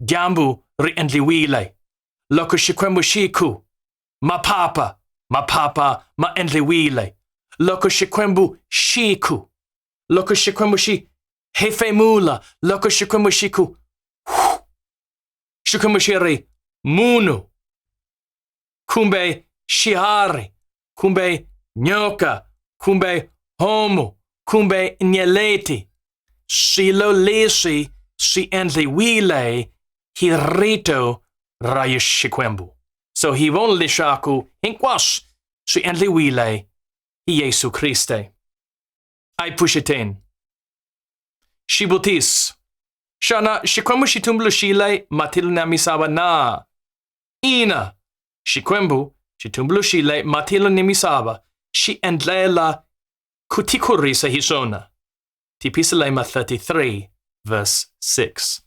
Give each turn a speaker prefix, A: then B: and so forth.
A: Dyambu ri endliwile. Loko Xikwembu xi ku, Maphapha, maphapha ma endliwile. Loko Xikwembu xi ku, loko Xikwembu xi hefemula, loko Xikwembu xi ku, Xikwembu xi ri, Munhu, kumbe shihari kumbe nyoka kumbe homu kumbe nyeleti swilo leswi swi endliwile hi rito ra Xikwembu. So hi vona leswaku hinkwaswo swi endliwile hi Yesu Kriste. A yi pfuxeteni. Xivutiso. Xana Xikwembu xi tumbuluxile matilo na misava na? Ina, Xikwembu xitumbuluxi le matilo ni misava xi endlela ku tikurisa hi swona. Tipisalema 33 verse 6.